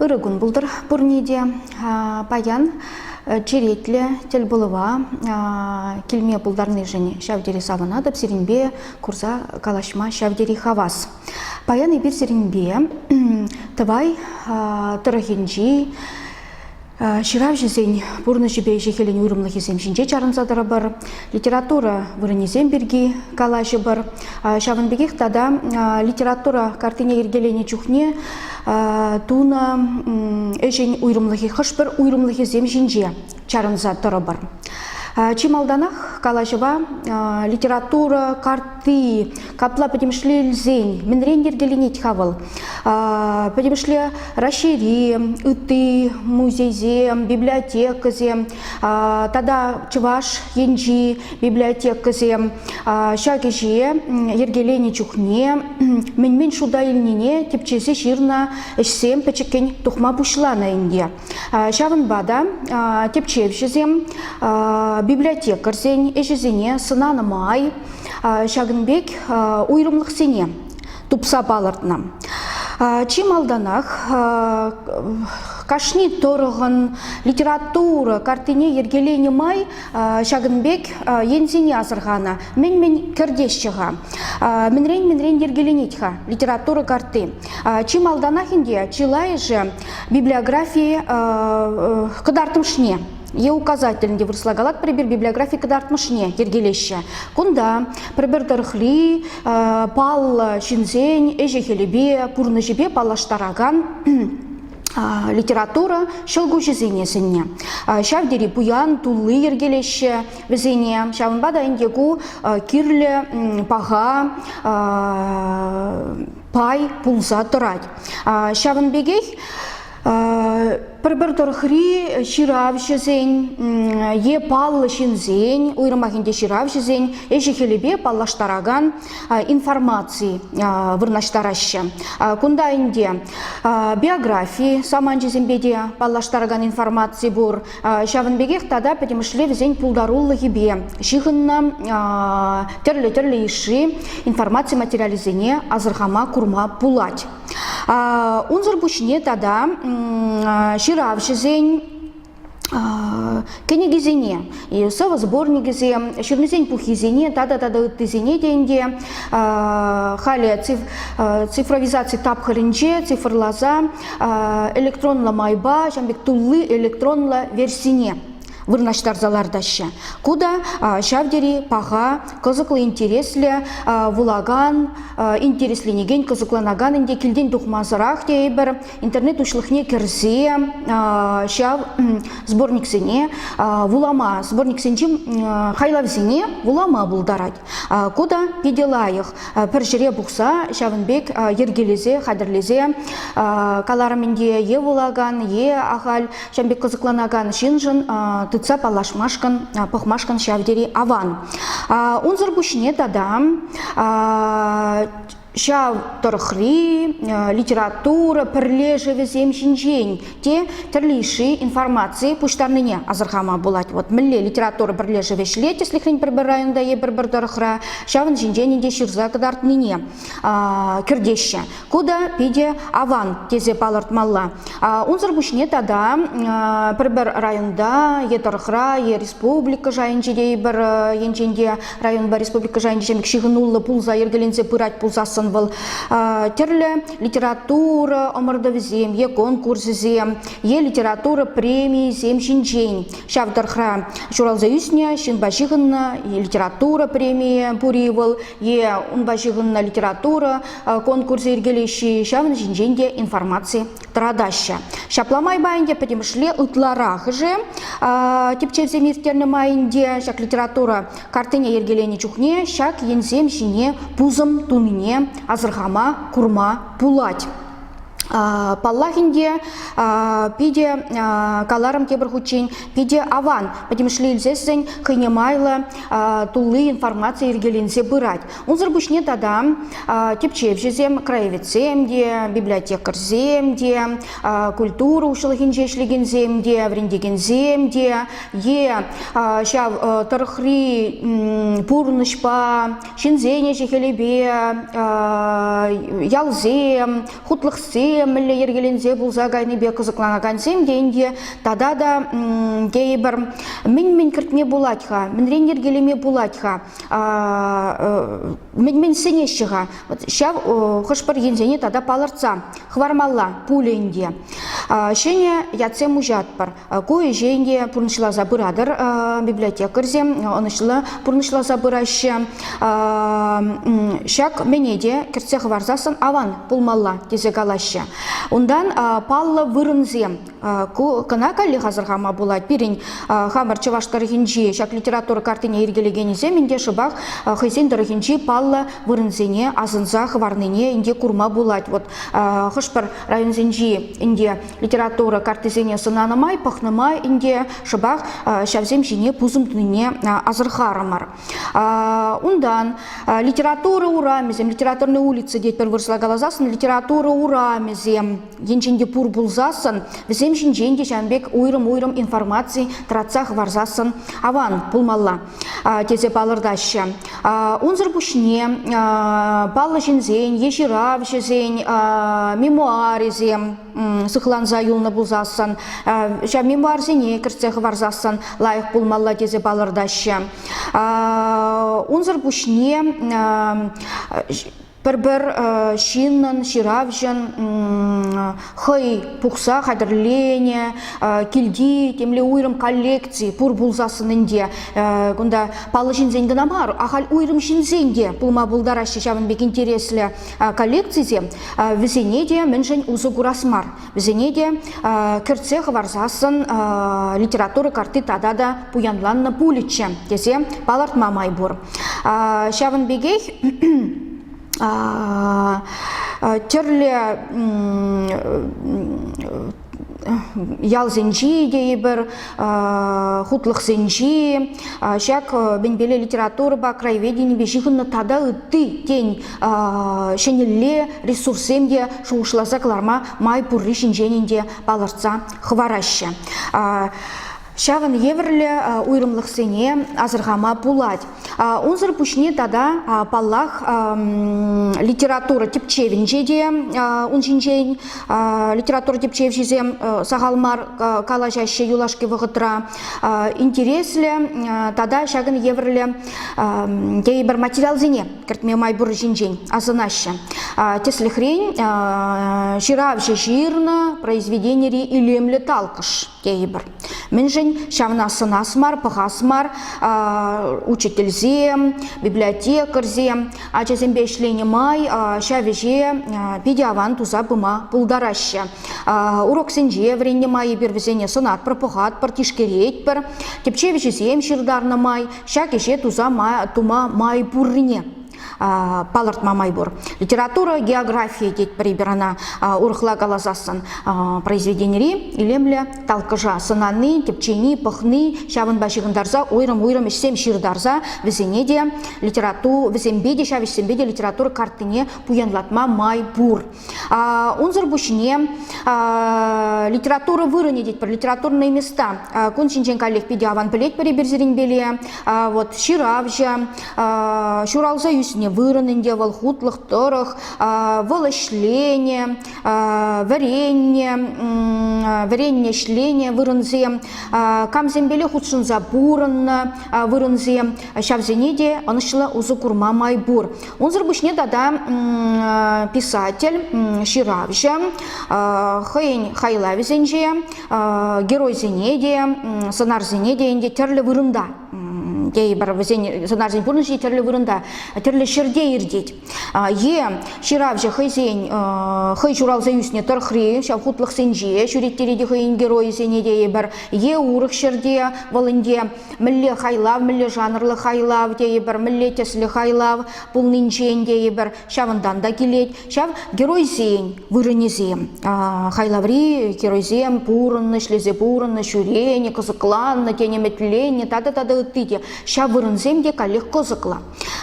Ырӑ кун пултӑр пурне те. Паян черетлӗ тӗлпулӑва килме пултарнишӗн ҫав тери савӑнатӑп сирӗнпе курса калаҫма ҫав тери хавас. Паян эпир сирӗнпе Тӑвай тӑрӑхӗнчи Ҫыравҫӑсен пурнӑҫӗпе ӗҫӗ-хӗлӗн уйрӑмлӑхӗсем ҫинче чарӑнса тӑрӑпӑр, литература вырӑнӗсем пирки калаҫӑпӑр. Ҫавӑн пекех тата литература картине йӗркеленӗ чухне тунӑ ӗҫӗн уйрӑмлӑхӗ хӑш-пӗр уйрӑмлӑхӗсем ҫинче чарӑнса тӑрӑпӑр. Чи малтанах калаҫӑва литература картти Капла пӗтӗмӗшле илсен мӗнрен йӗркеленет-ха вӑл? Пӗтӗмӗшле Раҫҫейри ытти музейсем, библиотекӑсем тата Чӑваш енчи библиотекӑсем ҫак ӗҫе йӗркеленӗ чухне мӗн-мӗн шута илнине типчесе ҫырнӑ ӗҫсем пӗчӗккӗн тухма пуҫланӑ ӗнтӗ. Ҫавӑнпа та тӗпчевҫӗсем библиотекарьсен ӗҫӗсене сӑнанӑ май ҫакӑн пек уйрӑмлӑхсене тупса палӑртнӑ. Чи малтанах кашни тӑрӑхӑн литература картине йӗркеленӗ май ҫакӑн пек енсене асӑрханӑ. Мӗн-мӗн кӗртеҫҫӗ-ха? Мӗнрен-мӗнрен йӗркеленет-ха литература карти? Чи малтанах ӗнтӗ чылайӑшӗ библиографи кӑтартмӑшне е указать тӗлӗнте вырӑсла калат пӗрпер библиографи кӑтартмӑшне йӗркелеҫҫӗ. Кунта пӗрпер тӑрӑхри паллӑ ҫынсен ӗҫӗ-хӗлӗпе, пурнӑҫӗпе паллаштаракан литература ҫӑлкуҫӗсене сӗннӗ. Ҫав тери пуян тулли йӗркелеҫҫӗ вӗсене. Ҫавӑнпа та ӗнтӗ ку кирлӗ паха пай пулса тӑрать. Ҫавӑн пекех пӗр-пӗр тӑрӑхри ҫыравҫӑсен е паллӑ ҫынсен, уйрӑмах ӗнтӗ ҫыравҫӑсен ӗҫӗ-хӗлӗпе паллаштаракан информаци вырнаҫтараҫҫӗ. Кунта ӗнтӗ биографи саманчӗсемпе те паллаштаракан информаци пур, Ҫавӑн пекех тата пӗтӗмӗшле вӗсен пултарулӑхӗпе ҫыхӑннӑ тӗрлӗ-тӗрлӗ йышши информаци материалӗсене асӑрхама, курма пулать. Унсӑр пуҫне тата ҫыравҫӑсен кӗнекисене, сӑвӑсборникӗсем, ҫырнисен пуххисене тата-тата ыттисене те ӗнтӗ халӗ цифровизаци тапхӑрӗнче цифрласа электронлӑ майпа ҫавӑн пек тулли электронлӑ версине вырнаҫтарса лартаҫҫӗ. Ку та ҫав тери паха, кӑсӑклӑ, интереслӗ, вулакан, интересленекен, кӑсӑкланакан ӗнтӗ килтен тухмасӑрах тейӗпӗр интернет уҫлӑхне кӗрсе ҫав сборниксене вулама, сборниксенчи хайлавсене вулама пултарать. Ку та питӗ лайӑх. Пӗр ҫӗре пухса ҫавӑн пек йӗркелесе, хатӗрлесе каларӑм ӗнтӗ е вулакан, е ахаль ҫавӑн пек кӑсӑкланакан ҫыншӑн тытса паллашмашкӑн, пӑхмашкӑн ҫав тери аван. Унсӑр пуҫне тата ҫав тӑрӑхри литература пӗрлешӗвӗсем ҫинчен те тӗрлӗ йышши информаци пуҫтарнине асӑрхама пулать. Вот мӗнле литература пӗрлешӗвӗ ӗҫлет тӗслӗхрен пӗр-пӗр районта е пӗр-пӗр тӑрӑхра ҫавӑн ҫинчен те ҫырса кӑтартнине кӗртеҫҫӗ. Ку та питӗ аван тесе палӑртмалла. Унсӑр пуҫне тата пӗр-пӗр районта е тӑрӑхра е республика шайӗнче те пӗр енчен те Районпа республика шайӗнче ҫемӗк ҫыхӑнуллӑ пулса йӗркеленсе пырать пулсассӑн вӑл тӗрлӗ литература ӑмӑртӑвӗсем е конкурсӗсем е литература премийӗсем ҫинчен ҫав тӑрӑхра ҫуралса ӳснӗ ҫынпа ҫыхӑннӑ литература премийӗ пур-и вӑл е унпа ҫыхӑннӑ литература конкурсӗ йӗркелеҫҫӗ ҫавӑн ҫинчен те информаци тӑратаҫҫӗ. Ҫапла майпа ӗнтӗ пӗтӗмӗшле ытларахӑшӗ типчевсем ирттернӗ майӗнче ҫак литература картине йӗркеленӗ чухне ҫак енсем ҫине пусӑм тунине асӑрхама, курма пулать. Паллах ӗнтӗ, питӗ каларӑм тепӗр хутчен, питӗ аван пӗтӗмӗшле илсессӗн хӑйне майлӑ тулли информаци йӗркеленсе пырать. Унсӑр пуҫне тата тӗпчевҫӗсем, краеведсем те, библиотекарьсем те, культура хуҫалӑхӗнче ӗҫлекенсем те, вӗрентекенсем те е ҫав тӑрӑхри пурнӑҫпа ҫынсен ӗҫӗ-хӗлӗпе ялсем, хутлӑхсем мӗнле йӗркеленсе пулса кайнипе кӑсӑкланакансем те ӗнтӗ тата та тейӗпӗр мӗн-мӗн кӗртме пулать-ха, мӗнрен йӗркелеме пулать-ха? мӗн сӗнеҫҫӗ-ха ҫав хӑш-пӗр енсене тата палӑртса хӑвармалла пулин те ҫӗнӗ ятсем уҫатпӑр ку ӗҫен те пурнӑҫласа пыратӑр библиотекарьсем ӑнӑҫлӑ пурнӑҫласа пыраҫҫӗ ҫак мӗне те кӗртсе хӑварсассӑн аван пулмалла тесе калаҫҫӗ унтан паллӑ вырӑнсем Ку кӑна каллех асӑрхама пулать. Пирӗн хамӑр чӑваш тӑрӑхӗнчи ҫак литература картине йӗркелекенӗсем ӗнтӗ шӑпах хӑйсен тӑрӑхӗнчи паллӑ вырӑнсене асӑнса хӑварнине ӗнтӗ курма пулать. Вот хӑш-пӗр районсенчи ӗнтӗ литература картисене сӑнанӑ май, пӑхнӑ май ӗнтӗ шӑпах ҫавсем ҫине пусӑм тунине асӑрхарӑмӑр. Унтан литература урамӗсем, литературные улицы тетпӗр вырӑсла каласассӑн, литература урамӗсем енчен те пур пулсассӑн вӗсем ҫинчен те ҫавӑн пек уйрӑм-уйрӑм информаци тӑратса хӑварсассӑн аван пулмалла тесе палӑртаҫҫӗ. Унсӑр пуҫне паллӑ ҫынсен е ҫыравҫӑсен мемуарӗсем сыхланса юлнӑ пулсассӑн ҫав мемуарсене кӗртсе хӑварсассӑн лайӑх пулмалла тесе палӑртаҫҫӗ. Унсӑр пуҫне пӗр-пӗр ҫыннӑн, ҫыравҫӑн хӑй пухса хатӗрленӗ килти темле уйрӑм коллекци пур пулсассӑн ӗнтӗ кунта паллӑ ҫынсен кӑна мар, ахаль уйрӑм ҫынсен те пулма пултараҫҫӗ ҫавӑн пек интереслӗ коллекцисем. Вӗсене те мӗншӗн усӑ курас мар? Вӗсене те кӗртсе хӑварсассӑн литература карти тата та пуянланнӑ пулӗччӗ тесе палӑртма май пур. Ҫавӑн пекех тӗрлӗ ялсенчи тейӗпӗр, хутлӑхсенчи ҫак бенбеле литературӑпа краеведенипе ҫыхӑннӑ тата ытти тен ҫӗнӗлле ресурссем те шухӑшласа кӑларма май пурри ҫинчен ӗнтӗ палӑртса хӑвараҫҫӗ. Ҫавӑн евӗрлӗ уйрӑмлӑхсене асӑрхама пулать. Унсӑр пуҫне тата, паллах, литература тӗпчевӗнче те ун ҫинчен литература тӗпчевҫисем сахал мар калаҫаҫҫӗ юлашки вӑхӑтра. Интереслӗ тата ҫакӑн евӗрлӗ тейӗпӗр материалсене кӗртме май пур ҫинчен асӑнаҫҫӗ. Тӗслӗхрен, ҫыравҫӑ ҫырнӑ произведенири илемлӗ талкӑш тейӗпӗр. Мӗншӗн? Ҫавна сӑнас мар, пӑхас мар учительсем, библиотекарьсем ачасемпе ӗҫленӗ май ҫав ӗҫе питӗ аван туса пыма пултараҫҫӗ. Уроксенче вӗреннӗ май эпир вӗсене сӑнатпӑр, пӑхатпӑр, тишкеретпӗр. Тӗпчев ӗҫӗсем ҫыртарнӑ май ҫак ӗҫе тума май пуррине палӑртма май пур. Литература, география тетпӗр-и ӑна урӑхла каласассӑн произведенири илемлӗ талккӑша сӑнани, тӗпчени, пӑхни, ҫавӑнпа ҫыхӑнтарса уйрӑм-уйрӑм ӗҫсем ҫыртарса вӗсене те литература, вӗсемпе те ҫав ӗҫсемпе те литература картине пуянлатма май пур. Унсӑр пуҫне литература вырӑнӗ тетпӗр, литературные места. Кун ҫинчен каллех питӗ аван пӗлетпӗр эпир сирӗнпеле. Вот ҫыравҫӑ, ҫуралса ӳснӗ вырӑн ӗнтӗ вӑл, хутлӑх тӑрӑх, вӑл ӗҫленӗ, вӗреннӗ, вӗреннӗ ӗҫленӗ вырӑнсем, камсемпеле хутшӑнса пурӑннӑ вырӑнсем, ҫавсене те ӑнӑҫлӑ усӑ курма май пур. Унсӑр пуҫне тата писатель, ҫыравҫӑ хӑйӗн хайлавӗсенче, геройсене те, сӑнарсене те ӗнтӗ тӗрлӗ вырӑнта тейӗпӗр вӗсен сӑнарсен пурнӑҫӗ тӗрлӗ вырӑнта, тӗрлӗ ҫӗрте иртет. Е ҫыравҫӑ хӑйсен хӑй ҫуралса ӳснӗ тӑрӑхри ҫав хутлӑхсенче ҫӳреттерет хӑйӗн геройӗсене тейӗпӗр. Е урӑх ҫӗрте вӑл ӗнтӗ мӗнле хайлав, мӗнле жанрлӑ хайлав тейӗпӗр, мӗнле тӗслӗ хайлав пулнинчен тейӗпӗр, ҫавӑнтан та килет. Ҫав геройсен вырӑнӗсем, хайлаври геройсем пурӑннӑ, ӗҫлесе пурӑннӑ, ҫӳренӗ, кӑсӑкланнӑ, тен, ӗмӗтленнӗ тата тата ытти те. Ҫав вырӑнсем те каллех кӑсӑклӑ.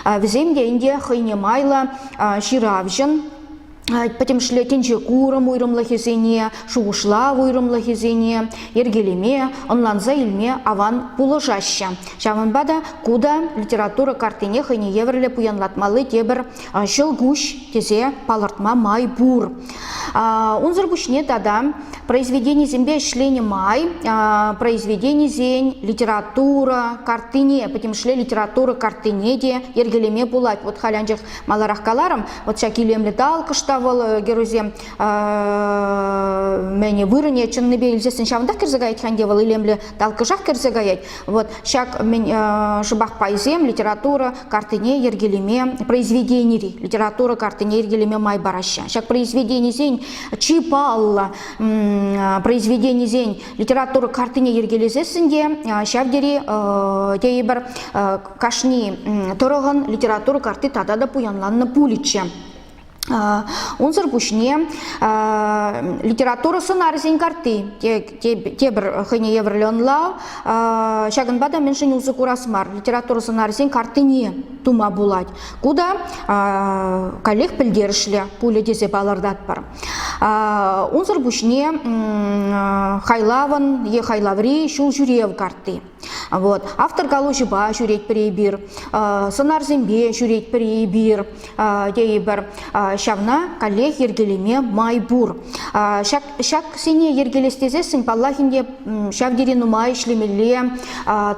Вӗсем те ӗнтӗ хӑйне майлӑ ҫыравҫӑн пӗтӗмӗшле тӗнче курӑм уйрӑмлӑхӗсене, шухӑшлав уйрӑмлӑхӗсене йӗркелеме, ӑнланса илме аван пулӑшаҫҫӗ. Ҫавӑнпа та ку та литература картине хӑйне евӗрлӗ пуянлатмалли тепӗр ҫӑлкуҫ тесе палӑртма май пур. Унсӑр пуҫне тата произведенисемпе ӗҫленӗ май произведенисен литература картине, пӗтӗмӗшле литература картине те йӗркелеме пулать. Вот халь анчах Маларах каларӑм, вот ҫак илемлӗ талкӑш та вӑл э, геройсем мӗне вырӑне чӑннипе илсессӗн ҫавӑнтах кӗрсе каять хан те вӑл илемлӗ талкӑшах кӗрсе каять. Вот ҫак шӑпах пайсем литература картине йӗркелеме произведенири литература картине йӗркелеме май параҫҫӗ. Ҫак произведенисен чи паллӑ произведенисен литература картине йӗркелесессӗн те ҫав тери тейӗпӗр Кашни тӑрӑхӑн литература карти тата та пуянланнӑ пулӗччӗ. Унсӑр пуҫне литература сӑнарӗсен карти тепӗр хӑйне евӗрлӗ ӑнлав. Ҫакӑнпа та мӗншӗн усӑ курас мар литература сӑнарӗсен картине тума пулать. Ку та каллех пӗлтерӗшлӗ пулӗ тесе палӑртатпӑр. Унсӑр пуҫне хайлавӑн е хайлаври ҫул ҫӳрев карти Вот. Автор калаҫупа ҫӳретпӗр эпир, сӑнарсемпе ҫӳретпӗр эпир тейӗпӗр. Ҫавна каллех йӗркелеме май пур. Ҫак, ҫаксене йӗркелес тесессӗн, паллах ӗнтӗ, ҫав тери нумай ӗҫлемелле,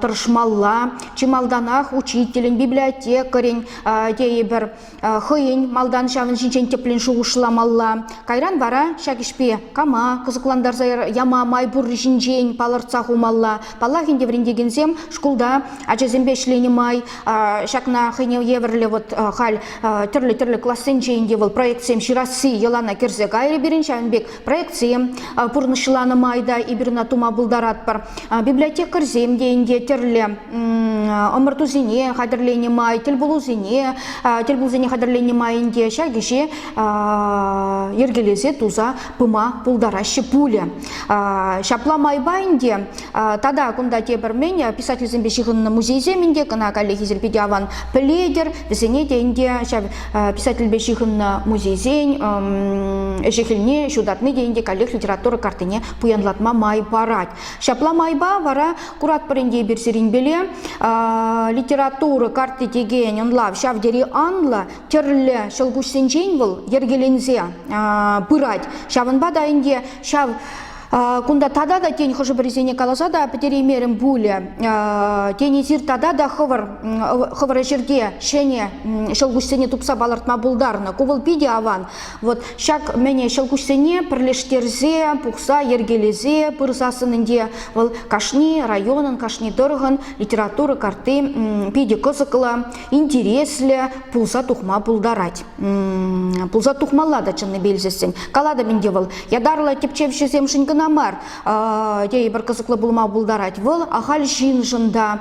тӑрӑшмалла. Чи малтанах учителӗн, библиотекарӗн тейӗпӗр хӑйӗн малтан ҫавӑн ҫинчен тӗплӗн шухӑшламалла. Кайран вара ҫак ӗҫпе кама кӑсӑклантарса яма май пурри ҫинчен палӑртса хумалла. Паллах ӗнтӗ вӗрентекенсем шкулта ачасемпе ӗҫленӗ май ҫакна хӑйне евӗрлӗ вот халь тӗрлӗ-тӗрлӗ классенче ӗнтӗ вӑл проектсем ҫырасси йӑлана кӗрсе кайрӗ пирӗн ҫавӑн пек проектсем пурнӑҫланӑ май та эпир ӑна тума пултаратпӑр. Библиотекарьсем те ӗнтӗ тӗрлӗ ӑмӑртусене хатӗрленӗ май, тӗлпулусене, тӗлпулусене хатӗрленӗ май ӗнтӗ ҫак ӗҫе йӗркелесе туса пыма пултараҫҫӗ пулӗ. Ҫапла майпа ӗнтӗ тата кунта тепӗр мӗн писательсемпе ҫыхӑннӑ музейсем ӗнтӗ кӑна каллехи серпете аван пӗлетӗр, вӗсене те ӗнтӗ ҫав писательпе ҫыхӑннӑ музейсен ӗҫӗ-хӗлне ҫутатни те ӗнтӗ каллех литература картине пуянлатма май парать. Ҫапла майпа вара куратпӑр ӗнтӗ эпир сирӗнпеле литература карти текен ӑнлав ҫав тери анлӑ, тӗрлӗ ҫӑлкуҫсенчен вӑл йӗркеленсе пырать. Ҫавӑнпа та ӗнтӗ ҫав Кунта тата та тен хӑшӗ-пӗрисене каласа та пӗтереймерӗм пулӗ. Тен эсир тата та хӑвӑр хӑвӑр ӗҫӗрте ҫӗнӗ ҫӑлкуҫсене тупса палӑртма пултарнӑ. Ку вӑл питӗ аван. Вот ҫак мӗне ҫӑлкуҫсене пӗрлештерсе, пухса, йӗркелесе пырсассӑн ӗнтӗ вӑл кашни районӑн, кашни тӑрӑхӑн литература карти питӗ кӑсӑклӑ. интереслӗ пулса тухма пултарать. Пулса тухмалла та чӑннипе илсессӗн. Калатӑп ӗнтӗ вӑл, ятарлӑ тӗпчевҫӗсемшӗн кӑна мар, тейӗпӗр кӑсӑклӑ пулма пултарать. Вӑл ахаль ҫыншӑн та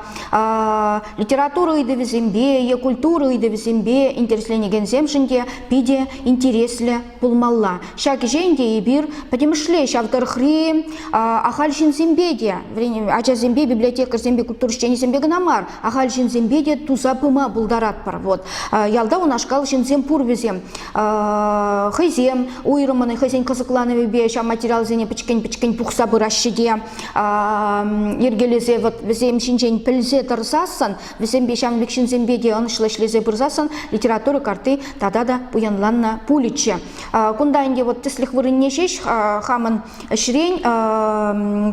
литература ыйтӑвӗсемпе е культура ыйтӑвӗсемпе интересленекенсемшӗн те питӗ интереслӗ пулмалла. Ҫак ӗҫе ӗнтӗ эпир пӗтӗмӗшле ҫав тӑрӑхри ахаль ҫынсемпе те, ачасемпе, библиотекарьсемпе, культура ӗҫченӗсемпе кӑна мар, ахаль ҫынсемпе те туса пыма пултаратпӑр. Вот ялта унашкал ҫынсем пур вӗсем. Хӑйсем уйрӑммӑн хӑйсен кӑсӑкланӑвӗпе ҫав материалсене пӗчӗккӗн-пӗчӗккӗн пухса пыраҫҫӗ те йӗркелесе вӗсем ҫинчен пӗлсе тӑрсассӑн Вӗсемпе ҫамрӑк ҫынсемпе те ӑнӑҫлӑ ӗҫлесе пырсассӑн литература картти тата та пуянланнӑ пулӗччӗ. Кунта ӗнтӗ вот тӗслӗх вырӑнне ҫеҫ хамӑн ӗҫрен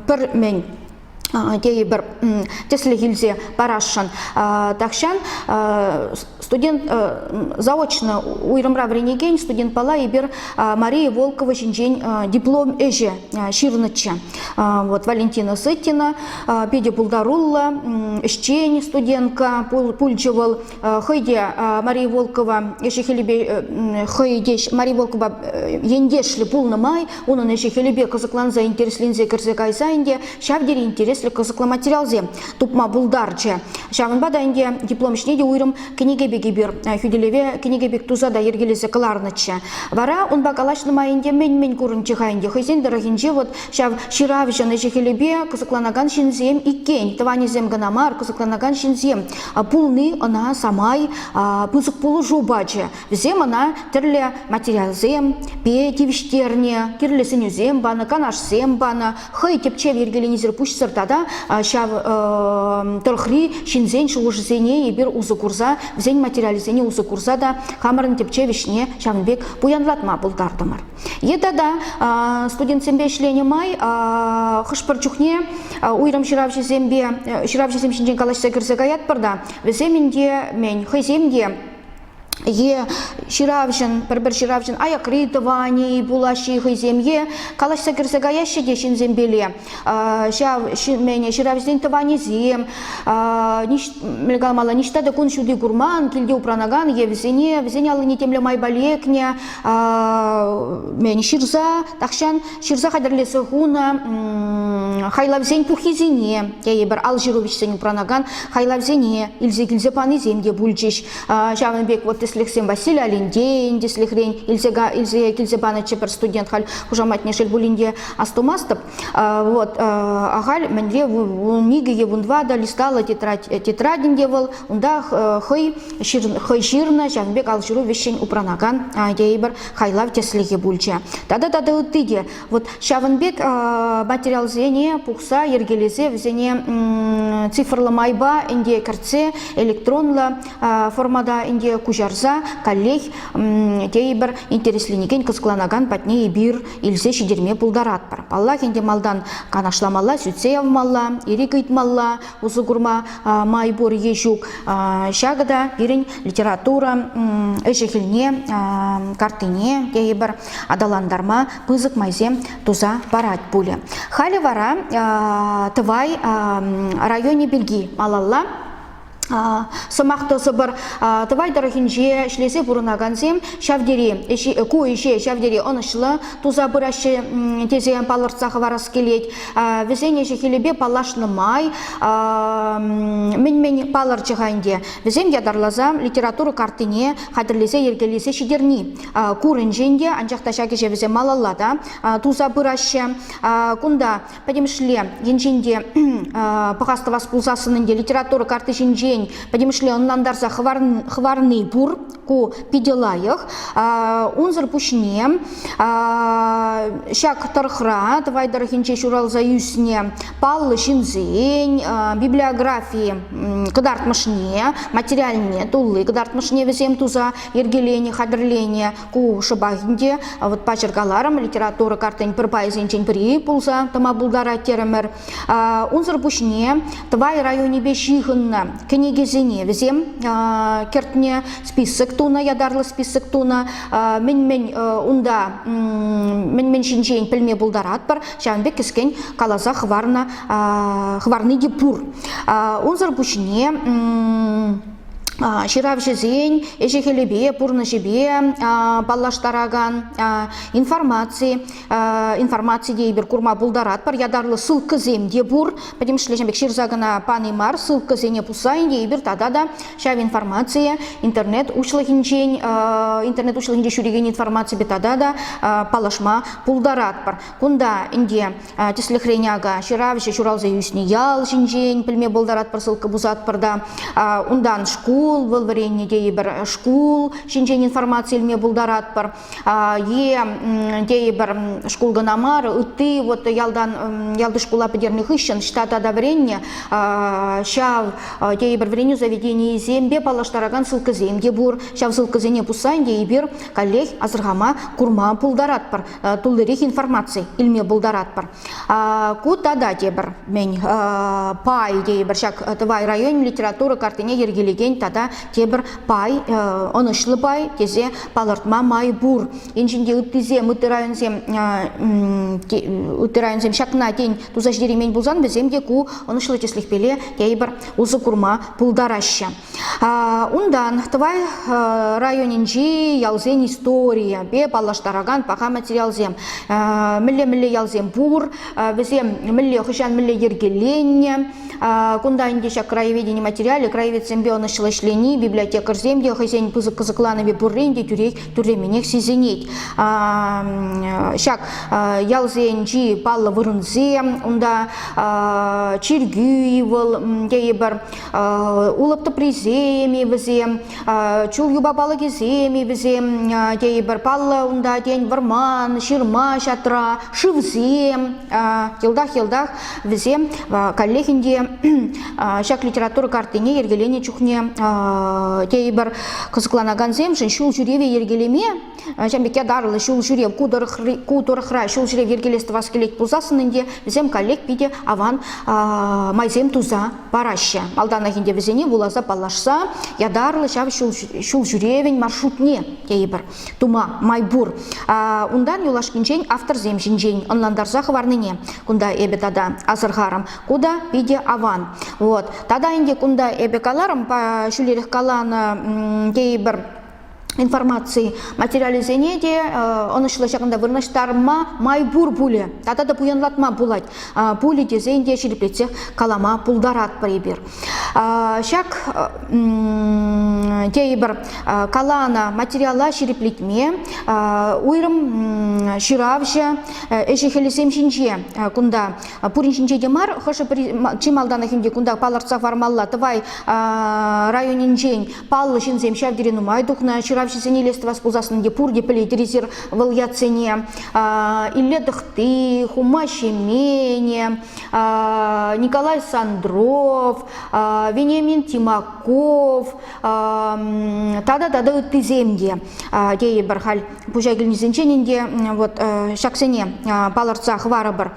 пӗр мӗн тейӗпӗр тӗслӗх илсе парасшӑн. Тахҫан студент заочно уйрӑмра вӗренекен студентпала эпир Мария Волкова ҫинчен диплом ӗҫӗ ҫырнӑччӗ. вот Валентина Сытина питӗ пултаруллӑ ӗҫчен студентка пулчӗ вӑл хӑйте Мария Волкова ӗҫӗ-хӗлӗпе хӑйте Мария Волкова ентешлӗ пулнӑ май унӑн ӗҫӗ-хӗлӗпе кӑсӑкланса интересленсе кӗрсе кайса ӗнтӗ ҫав тери интереслӗ кӑсӑклӑ материалсем тупма пултарчӗ ҫавӑнпа та ӗнтӗ диплом ӗҫне те уйрӑм кӗнеке пек эпир хӳтӗлеве кӗнеке пек туса та йӗркелесе кӑларнӑччӗ. Вара унпа калаҫнӑ май ӗнтӗ мӗн-мӗн курӑнчӗ-ха ӗнтӗ хӑйсен тӑрӑхӗнче вот ҫав ҫыравҫӑн ӗҫӗ-хӗлӗпе кӑсӑкланакан ҫынсем иккен, тӑванӗсем кӑна мар, кӑсӑкланакан ҫынсем пулни ӑна самай пысӑк пулӑшу пачӗ. Вӗсем ӑна тӗрлӗ материалсем тивӗҫтернӗ, тӗрлӗ сӗнӳсем панӑ, канашсем панӑ, хӑй тӗпчев йӗркеленисӗр пуҫсӑр тата ҫав тӑрӑхри ҫынсен шухӑшӗсене эпир усӑ курса, вӗсен материалӗсене усӑ курса та хамӑрӑн тӗпчев ӗҫне ҫавӑн пек пуянлатма пултартӑмӑр. Е тата студентсемпе ӗҫленӗ май хӑш-пӗр чухне уйрӑм ҫыравҫӑсемпе ҫыравҫӑсем ҫинчен калаҫса кӗрсе каятпӑр та вӗсем ӗнтӗ, мен хӑйсем те е ҫыравҫӑн, пӗр-пӗр ҫыравҫӑн аякри тӑванӗ пулаҫҫӗ хӑйсем е калаҫса кӗрсе каяҫҫӗ те ҫынсемпеле ҫав ҫӗнӗ ҫыравҫсен тӑванӗсем мелкалмалла ниҫта та кун ҫути курман, килте упранакан е вӗсене вӗсен аллине темле майпа лекнӗ ҫырса тахҫан ҫырса хатӗрлесе хунӑ хайлавсен пуххисене тейӗпӗр ал ҫыру вӗҫсен упранакан хайлавсене илсе килсе панисем те пулчӗҫ. Ҫавӑн пек вот тӗслӗхсем Василий Алендейӗн тӗслӗхрен илсе, илсе килсе панӑччӗ пӗр студент халь хушаматне шел пулин те астумастӑп. Вот ахаль мӗнле мигӗ е вунва та листала тетрадин те вӑл унта хӑй хӑй ҫырнӑ ҫавӑн пек алҫыру вӗҫҫӗн упранакан тейӗпӗр хайлав тӗслӗхӗ пулчӗ. Тата тата ытти те Вот ҫавӑн пек материалсене пухса йӗркелесе вӗсене цифрлӑ майпа ӗнте кӗртсе электронлӑ формата ӗнте куҫарса каллех тейӗпӗр интересленекен кӑсӑкланакан патне эпир илсе ҫитерме пултаратпӑр. Паллах, ӗнте малтан канашламалла, сӳтсе явмалла, ирӗк ыйтмалла, усӑ курма май пур е ҫук. Ҫакӑ та пирӗн литература ӗҫӗ-хӗлне, картине тейӗпӗр аталантарма пысӑк майсем туса парать пулӗ. Халӗ вара Тӑвай районӗ пирки малалла сӑмах тӑсӑпӑр Тӑвай тӑрӑхӗнче ӗҫлесе пурӑнакансем ҫав тери ку ӗҫе ҫав тери ӑнӑҫлӑ туса пыраҫҫӗ тесе палӑртса хӑварас килет. Вӗсен ӗҫӗ-хӗлӗпе паллашнӑ май мӗн-мӗн палӑрчӗ-ха ӗнтӗ? Вӗсем ятарласа литература картине хатӗрлесе йӗркелесе ҫитерни курӑнчен те, анчах та ҫак ӗҫе вӗсем малалла та туса пыраҫҫӗ. Кунта пӗтӗмӗшле енчен те пӑхас тӑвас пулсассӑн ӗнтӗ литература карти ҫинчен пӗтӗмӗшле ӑнлантарса хӑварни пур. Ку питӗ лайӑх. Унсӑр пуҫне ҫак тӑрӑхра, Тӑвай тӑрӑхӗнче ҫуралса ӳснӗ паллӑ ҫынсен библиографи кӑтартмӑшне, материальне тулли кӑтартмӑшне вӗсем туса йӗркелени, хатӗрлени ку шӑпах ӗнтӗ. Вот паҫӑркаларӑм, литература картин пӗр пайӗсенчен пӗри пулса тӑма пултарать терӗмӗр. Унсӑр пуҫне Тӑвай районӗпе ҫыхӑннӑ кӗнекесене вӗсем кӗртнӗ, список тунӑ, ятарлӑ список тунӑ. Мӗн-мӗн унта мӗн-мӗн ҫинчен пӗлме пултаратпӑр, ҫавӑн пек кӗскен каласа хӑварнӑ хӑварни те пур. Унсӑр пуҫне ҫыравҫӑсен ӗҫӗ-хӗлӗпе, пурнӑҫӗпе паллаштаракан информаци. Информаци тейпӗр курма пултаратпӑр. Ятарлӑ ссылкӑсем те пур. Пӗтӗмӗшле пек ҫырса кӑна пани мар. Ссылкӑсене пусса тейпӗр тата та ҫав информацие интернет уҫлӑхӗнчен интернет уҫлӑхӗнче ҫӳрекен информаципе тата та паллашма пултаратпӑр. Кунта ӗнтӗ тӗслӗхрен ака ҫыравҫӑ ҫуралса ӳснӗ ял ҫинчен пӗлме пултаратпӑр, ссылка пусатпӑр та. Унтан шкул, вӑл вӗреннӗ тейӗпӗр, шкул ҫинчен информаци илме пултаратпӑр. Е тейӗпӗр шкул кӑна мар, ытти вот ялтан ялти шкула пӗтернӗ хыҫҫӑн штата та вӗреннӗ ҫав тейӗпӗр вӗренӳ заведенийӗсемпе паллаштаракан ссылкӑсем те пур. Ҫав ссылкӑсене пусса ӗнтӗ эпир каллех асӑрхама, курма пултаратпӑр. туллирех информаци илме пултаратпӑр. Ку тата тепӗр, мен пай тейӗпӗр ҫак Тӑвай район литература картине йӗркелекен тата тепӗр пай, ӑнӑҫлӑ пай тесе палӑртма май пур. Енчен ыттисем, ытти районсем, ытти районсем ҫакна тен туса ҫитереймен пулсан, вӗсем те ку ӑнӑҫлӑ тӗслӗхпеле тейӗпӗр усӑ курма пултараҫҫӗ. Унтан Тӑвай районӗнчи ялсен историйӗпе паллаштаракан паха материалсем, мӗлле-мӗлле ялсем пур, вӗсем мӗнле хӑҫан мӗнле йӗркеленнӗ, кунта ӗнтӗ ҫак краеведени материалӗ, краеведсемпе ӑнӑҫлӑ ӗҫлени, библиотекарьсем те хӑйсен пысӑк кӑсӑкланӑвӗ пуррин те тӳрремӗнех сисӗнет. Ҫак ялсенчи паллӑ вырӑнсем, унта чиркӳ вӑл тейӗпӗр, Улӑп тӑприсем-и вӗсем, чул юпа палӑкӗсем-и вӗсем, тейӗпӗр. Паллӑ унта, тен, вӑрман, ҫырма ҫатра, шывсем. Йӑлтах-йӑлтах вӗсем каллех ӗнтӗ ҫак литература картине йӗркеленӗ чухне тейӗпӗр кӑсӑкланакансемшӗн ҫул ҫӳреве йӗркелеме Ҫавӑн пек ятарлӑ ҫул ҫӳрев ку тӑрӑхри, ку тӑрӑхра ҫул ҫӳрев йӗркелес тӑвас килет пулсассӑн ӗнтӗ вӗсем коллег питӗ аван майсем туса параҫҫӗ. Малтанах ӗнтӗ вӗсене вуласа паллашса ятарлӑ ҫав ҫул, ҫул ҫӳревӗн маршрутне тейӗпӗр тума май пур. Унтан юлашкинчен авторсем ҫинчен ӑнлантарса хӑварнине кунта эпӗ тата асӑрхарӑм. Ку та питӗ аван. Вот. Тата ӗнтӗ кунта эпӗ каларӑм ҫӳлерех каланӑ тейӗпӗр информаци материалӗсене те ӑнӑҫлӑ ҫакӑнта вырнаҫтарма май пур пулӗ тата та пуянлатма пулать пулӗ тесен те ҫирӗплетсех калама пултаратпӑр эпир ҫак тейӗпӗр каланӑ материала ҫирӗплетме уйрӑм ҫыравҫӑ ӗҫӗ-хӗлӗсем ҫинче кунта пурин ҫинче те мар хӑшӗ-пӗри чи малтанах ӗнтӗ кунта палӑртса хӑвармалла тӑвай районӗнчен Паллӑ ҫынсем ҫав тери нумай тухнӑ. Ҫыравҫӑсене илес тӑвас пулсассӑн те пурте пӗлет резерв вӑл ятсене. Илле Тӑхти, Хума Ҫемене, Николай Сандров, Вениамин Тимаков тата тата ыттисем те тейӗпӗр халь. пуҫа килнисенчен ӗнтӗ вот ҫаксене палӑртса хӑварӑпӑр.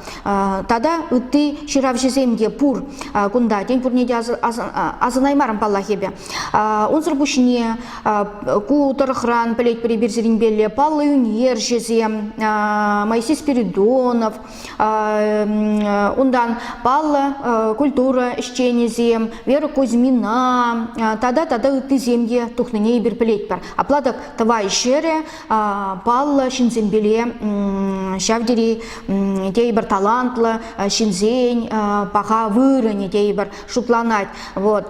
Тата ытти ҫыравҫӑсем те пур кунта. Тен, пурне те асӑнаймарӑм паллах эпӗ. Унсӑр пуҫне ку тӑрӑхран пӗлетпӗр эпир сирӗнпелле паллӑ ӳнерҫӗсем Моисей Спиридонов, Унтан паллӑ культура ӗҫченӗсем Вера Кузьмина тата тата ыттисем те тухнине эпир пӗлетпӗр. Апла тӑк Тӑвай ҫӗрӗ паллӑ ҫынсемпеле ҫав тери тейӗпӗр талантлӑ ҫынсен паха вырӑнӗ тейӗпӗр. шутланать. Вот.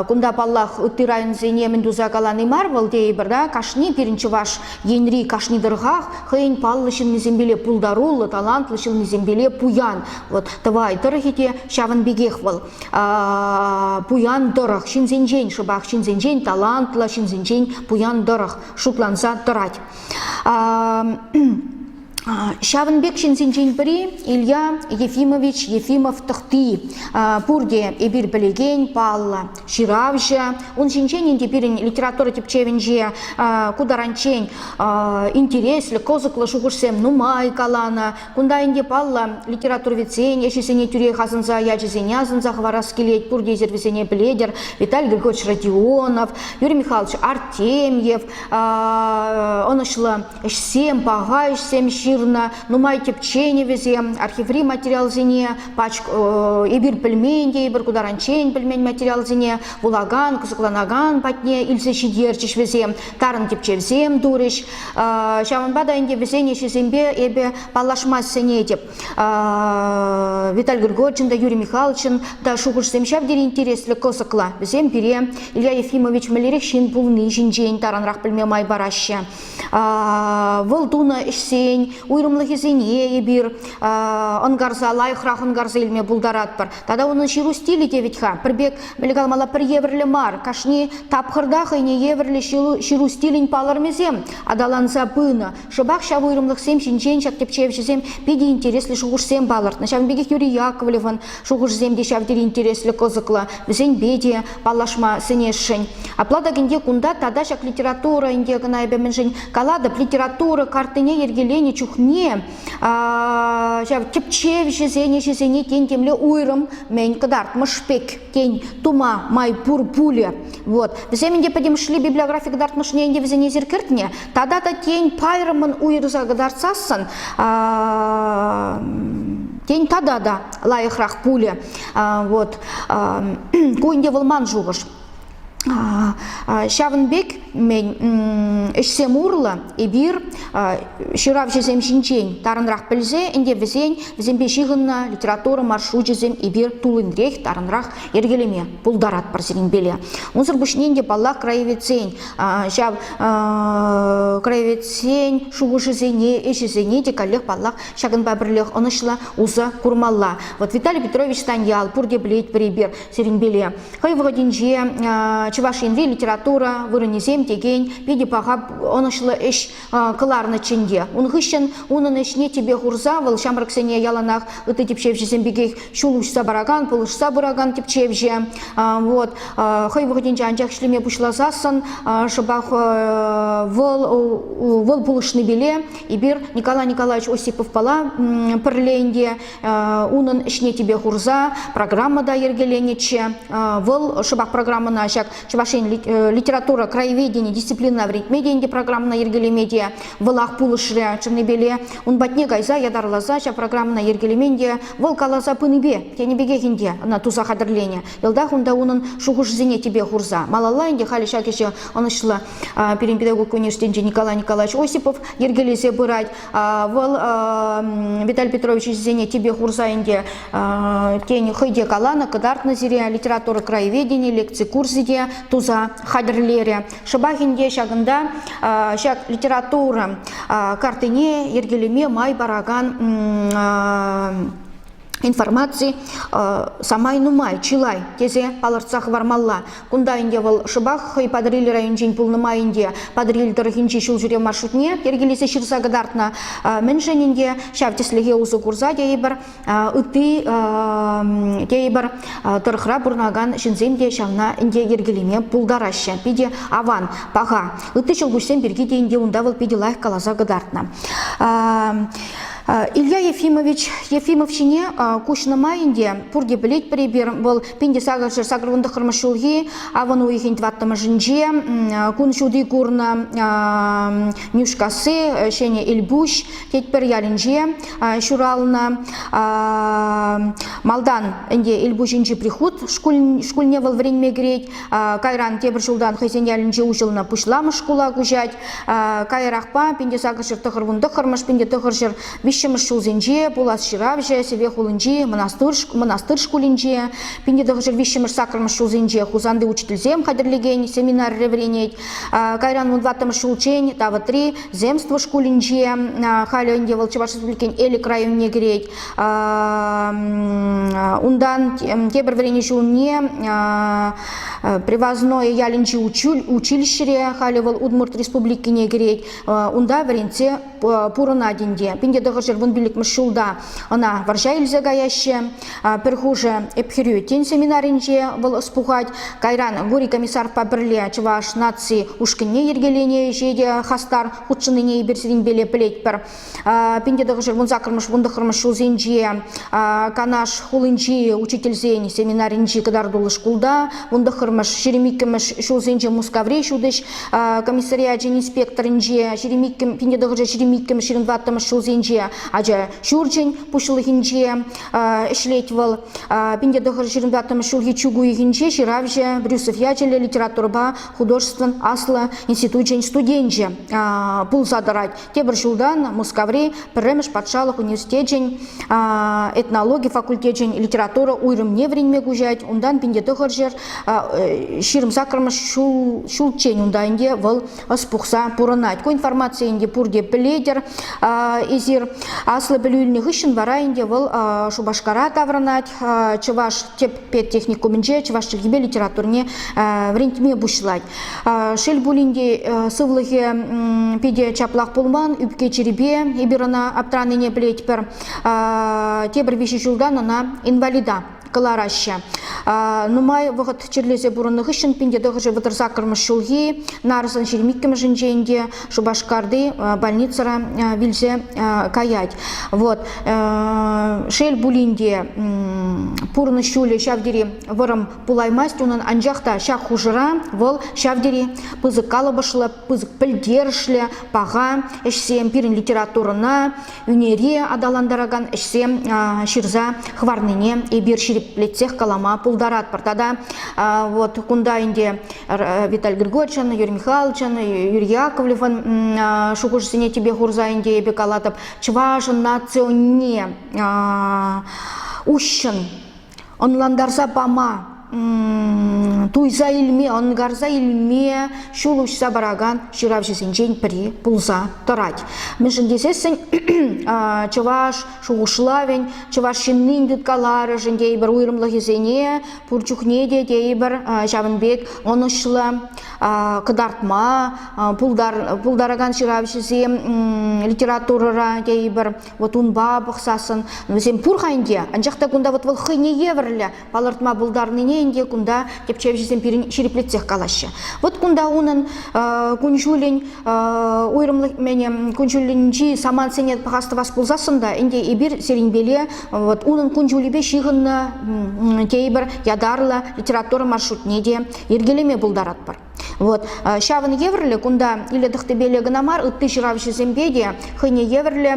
Кунта, паллах, ытти районсене мӗн туса калани мар, вӑл тейӗпӗр, да, кашни пирӗн чӑваш енри кашни тӑрӑхах хӑйӗн паллӑ ҫыннисемпеле пултаруллӑ, талантлӑ ҫыннисемпеле пуян. Вот Тӑвай тӑрӑхӗ те ҫавӑн пекех вӑл. Пуян тӑрӑх, ҫынсенчен шӑпах ҫынсенчен талантлӑ, ҫынсенчен пуян тӑрӑх шутланса тӑрать. Ҫавӑн пек ҫынсенчен пӗри Илья Ефимович Ефимов тӑхти. Пурте эпир пӗлекен паллӑ ҫыравҫӑ. Ун ҫинчен ӗнтӗ пирӗн литература тӗпчевӗнче ку таранччен интереслӗ, кӑсӑклӑ шухӑшсем нумай каланӑ. Кунта ӗнтӗ паллӑ литературоведсен ӗҫӗсене тӳрех асӑнса, ячӗсене асӑнса хӑварас килет. Пурте эсир вӗсене пӗлетӗр. Виталий Григорьевич Родионов, Юрий Михайлович Артемьев ӑнӑҫлӑ ӗҫсем, паха ӗҫсем ҫырнӑ, нумай тӗпченӗвӗсем, архиври материалсене, пач эпир пӗлмен те, эпир ку таранччен пӗлмен материалсене вулакан, кӑсӑкланакан патне илсе ҫитерчӗҫ вӗсем, тарӑн тӗпчевсем турӗҫ. Ҫавӑнпа та ӗнтӗ вӗсен ӗҫӗсемпе эпӗ паллашма сӗнетӗп. Виталий Григорьевичӑн та, Юрий Михайловичӑн та шухӑшсем ҫав тери интереслӗ, кӑсӑклӑ. Вӗсем пире Илья Ефимович мӗнлерех ҫын пулни ҫинчен таранрах пӗлме май параҫҫӗ. вӑл тунӑ ӗҫсен уйрӑмлӑхӗсене эпир ӑнкарса лайӑхрах ӑнкарса илме пултаратпӑр. Тата унӑн ҫыру стилӗ те вӗт-ха пӗр пек мӗн калмалла пӗр евӗрлӗ мар. Кашни тапхӑрта хӑйне евӗрлӗ ҫыру стилӗн палӑрмӗсем аталанса пынӑ. Шӑпах ҫав уйрӑмлӑхсем ҫинчен ҫак тӗпчевҫӗсем питӗ интереслӗ шухӑшсем палӑртнӑ. Ҫавӑн пекех Юрий Яковлевӑн Шухӑшсем те ҫав тери интереслӗ, кӑсӑклӑ. Вӗсемпе те паллашма сӗнесшӗн. Апла та ӗнтӗ кунта тата ҫак литература ӗнтӗ кӑна эпӗ мӗншӗн калатӑп, литература картине йӗркеленӗ чухне ҫав тӗпчевҫӗсен ӗҫӗсене тен темле уйрӑм мӗн кӑтартмӑш пек тен тума май пур пулӗ. Вот. Вӗсем ӗнтӗ пӗтӗмӗшле библиографи кӑтартмӑшне ӗнтӗ вӗсене эсир кӗртнӗ, Тата та тен пайрӑмӑн уйӑрса кӑтартсассӑн тен тата та лайӑхрах пулӗ. Вот ку ӗнтӗ вӑл ман шухӑш. Ҫавӑн пек мен ӗҫсем урлӑ эпир ҫыравҫӑсем ҫинчен тарӑнрах пӗлсе ӗнтӗ вӗсен вӗсемпе ҫыхӑннӑ литература маршручӗсем эпир туллинрех тарӑнрах йӗркелеме пултаратпӑр сирӗн пеле. Унсӑр пуҫне ӗнтӗ паллах краеведсен ҫав краеведсен шухӑшӗсене, ӗҫӗсене те каллех, паллах, ҫакӑнпа пӗрлех ӑнӑҫлӑ усӑ курмалла. Вот Виталий Петрович Станьял пурте пӗлет пӗрипер сирӗнпеле. Хӑй вӑхӑтӗнче Чӑваш Енри литература вырӑнӗсем текен питӗ паха ӑнӑҫлӑ ӗҫ кӑларнӑ чӗнте. Ун хыҫҫӑн унӑн ӗҫне тӗпе хурса вӑл ҫамрӑксене яланах ытти тӗпчевҫӗсем пекех ҫул уҫса паракан, пулӑшса пыракан тӗпчевҫӗ. Вот хӑй вӑхӑтӗнче анчах ӗҫлеме пуҫласассӑн шӑпах вӑл вӑл пулӑшнипеле эпир Николай Николаевич Осиповпала пӗрле ӗнтӗ унӑн ӗҫне тӗпе хурса программа та йӗркеленӗччӗ. Вӑл шӑпах программӑна ҫак Чӑваш Ен литература краеведени дисциплинӑна вӗрентме те ӗнтӗ программӑна йӗркелеме те вӑлах пулӑшрӗ Чернебеле. Ун патне кайса ятарласа ҫав программӑна йӗркелемен те, вӑл каласа пынипе тенӗ пекех ӗнтӗ ӑна туса хатӗрленӗ. Йӑлтах унта унӑн шухӑшӗсене тӗпе хурса малалла ӗнтӗ халӗ ҫак ӗҫе ӑнӑҫлӑ пирӗн педагогика университетӗнче Николай Николаевич Осипов йӗркелесе пырать. Вӑл Виталий Петрович ӗҫӗсене тӗпе хурса ӗнтӗ тен хӑй те каланӑ, кӑтартнӑ сире литература краеведени лекци курсӗ те туса хатӗрлерӗ. Шӑпах ӗнтӗ ҫакӑнта ҫак литература картине йӗркелеме май паракан информаци самай нумай, чылай тесе палӑртса хӑвармалла. Кунта ӗнтӗ вӑл шӑпах хӑй Патӑрьел районӗнчен пулнӑ май ӗнтӗ Патӑрьел тӑрӑхӗнчи ҫулҫӳрев маршрутне йӗркелесе ҫырса кӑтартнӑ. Мӗншӗн ӗнтӗ ҫав тӗслӗхе усӑ курса тейӗпӗр, ытти тейӗпӗр тӑрӑхра пурӑнакан ҫынсем те ҫавна ӗнтӗ йӗркелеме пултараҫҫӗ. Питӗ аван, паха. Ытти ҫӑлкуҫсем пирки те ӗнтӗ унта вӑл питӗ лайӑх каласа кӑтартнӑ. Илья Ефимович Ефимов ҫине куҫнӑ май ӗнтӗ пурте пӗлетпӗр эпир вӑл пинте сакӑрҫӗр сакӑр вун тӑххӑрмӗш ҫулхи авӑн уйӑхӗн тӑваттӑмӗшӗнче кун ҫути курнӑ Нӳшкасси Ҫӗнӗ Элпуҫ Тетпӗр ялӗнче ҫуралнӑ малтан ӗнтӗ Элпуҫӗнчи прихут шкулне вӑл вӗренме кӗрет Кайран тепӗр ҫултан хӑйсен ялӗнче уҫӑлнӑ пуҫламӑш шкула куҫать. Каярахпа Пинте сакӑрҫӗр тӑхӑр вун тӑххӑрмӗш, Пинте тӑхӑрҫӗр виҫҫӗмӗш ҫулсенче пулас ҫыравҫӑ Сӗве хулинчи мӑнастыр шкулӗнче, Пинте тӑхӑрҫӗр виҫҫӗмӗш сакӑрмӗш ҫулсенче Хусанти учительсем хатӗрлекен семинарре вӗренет. Кайран вун тӑваттӑмӗш ҫулччен Тавӑтри земство шкулӗнче, халӗ ӗнтӗ вӑл Чӑваш Республикин Элӗк районне кӗрет. Унтан тепӗр вӗренӳ ҫулне Привозное ялӗнчи училищӗре, халӗ вӑл Удмурт Республикине кӗрет, унта вӗренсе пурӑнать ӗнтӗ. Пинте тӑхӑрҫӗр вун пиллӗкмӗш ҫулта ӑна вӑрҫа илсе каяҫҫӗ. Пӗр хушӑ Ӗпхӗрӳ семинарӗнче вӑл ӑс пухать. Кайран Гурий комиссарпа пӗрле Чӑваш наци ушкӑнне йӗркеленӗ ӗҫе те хастар хутшӑннине эпир сирӗнпеле пӗлетпӗр. Пинте тӑхӑшӗ вун саккӑрмӗш, вун тӑхӑрмӗш ҫулсенче Канаш хулинчи учительсен семинарӗнчи кӑтартуллӑ шкулта, вун тӑхӑрмӗш, ҫирӗм иккӗмӗш ҫулсенче Мускаври ҫутӗҫ комиссариачӗн инспекторӗнче, ҫирӗм иккӗм, пинте тӑхӑшӗ ҫирӗм иккӗмӗш, ҫирӗм тӑваттӑмӗш ҫулсенче ача ҫурчӗн пуҫлӑхӗнче ӗҫлет вӑл. Пинте тӑхӑшӗ ҫирӗм тӑваттӑмӗш ҫулхи чӳк уйӑхӗнче ҫыравҫӑ, Брюсов ячӗллӗ литературӑпа художествӑн аслӑ институчӗн студенчӗ пулса тӑрать. Тепӗр ҫултан Мускаври пӗрремӗш патшалӑх университечӗн этнологи факультечӗн литература уйрӑмне вӗренме куҫать. Унтан пин те тӑхӑр ҫӗр ҫирӗм саккӑрмӗш ҫул ҫулччен унта ӗнтӗ вӑл ӑс пухса пурӑнать. Ку информацие ӗнтӗ пурте пӗлетӗр эсир. Аслӑ пӗлӳ илнӗ хыҫҫӑн вара ӗнтӗ вӑл Шупашкара таврӑнать. чӑваш тӗп педтехникумӗнче чӑваш чӗлхипе литературине вӗрентме пуҫлать. Шел пулин те сывлӑхӗ питӗ чаплах пулман, ӳпке чирӗпе эпир ӑна аптранине пӗлетпӗр. Тепӗр виҫӗ ҫултан ӑна инвалида кӑлараҫҫӗ. Нумай вӑхӑт чирлесе пурӑннӑ хыҫҫӑн пин те тӑхӑршӗ вӑтӑр саккӑрмӗш ҫулхи нарӑсӑн ҫирӗм иккӗмӗшӗнчен те Шупашкарти больницӑра вилсе каять. Вот. Шел пулин те, пурнӑҫ ҫулӗ ҫав тери вӑрӑм пулаймасть унӑн, анчах та ҫак хушӑра вӑл ҫав тери пысӑк калӑпӑшлӑ, пысӑк пӗлтерӗшлӗ, паха ӗҫсем пирӗн литературӑна, ӳнери аталантаракан ӗҫсем ҫырса хӑварнине эпир ҫирӗплетсех калама пултаратпӑр. Тата вот кунта ӗнтӗ Виталий Григорьевичӑн, Юрий Михайловичӑн, Юрий Яковлевӑн шухӑшӗсене тӗпе хурса ӗнтӗ эпӗ калатӑп чӑвашӑн наци унне уҫҫӑн ӑнлантарса пама, туйса илме, ӑнкарса илме ҫул уҫса паракан ҫыравҫӑсенчен пӗри пулса тӑрать. Мӗншӗн тесессӗн чӑваш шухӑшлавӗн, чӑваш ҫыннин тыткаларӑшӗн тейпӗр уйрӑмлӑхӗсене пур чухне те тейпӗр ҫавӑн пек ӑнӑҫлӑ кӑтартма пултаракан ҫыравҫӑсем литературӑра тейпӗр Вот унпа пӑхсассӑн вӗсем пур-ха ӗнтӗ, анчах та кунта вот вӑл хӑйне евӗрлӗ палӑртма пултарнине ӗнтӗ кунта тӗпчевҫӗсем пирӗн ҫирӗплетсех калаҫҫӗ. Вот кунта унӑн кун-ҫулӗн уйрӑмлӑх кун-ҫулӗнчи самантсене пӑхас тӑвас пулсассӑн та ӗнтӗ эпир сирӗнпеле вот унӑн кун-ҫулӗпе ҫыхӑннӑ тейпӗр ятарлӑ литература маршрутне те йӗркелеме пултаратпӑр. Вот. Ҫавӑн евӗрлӗ кунта Илья Тӑхтӑпеле кӑна мар, ытти ҫыравҫӑсемпе те хӑйне евӗрлӗ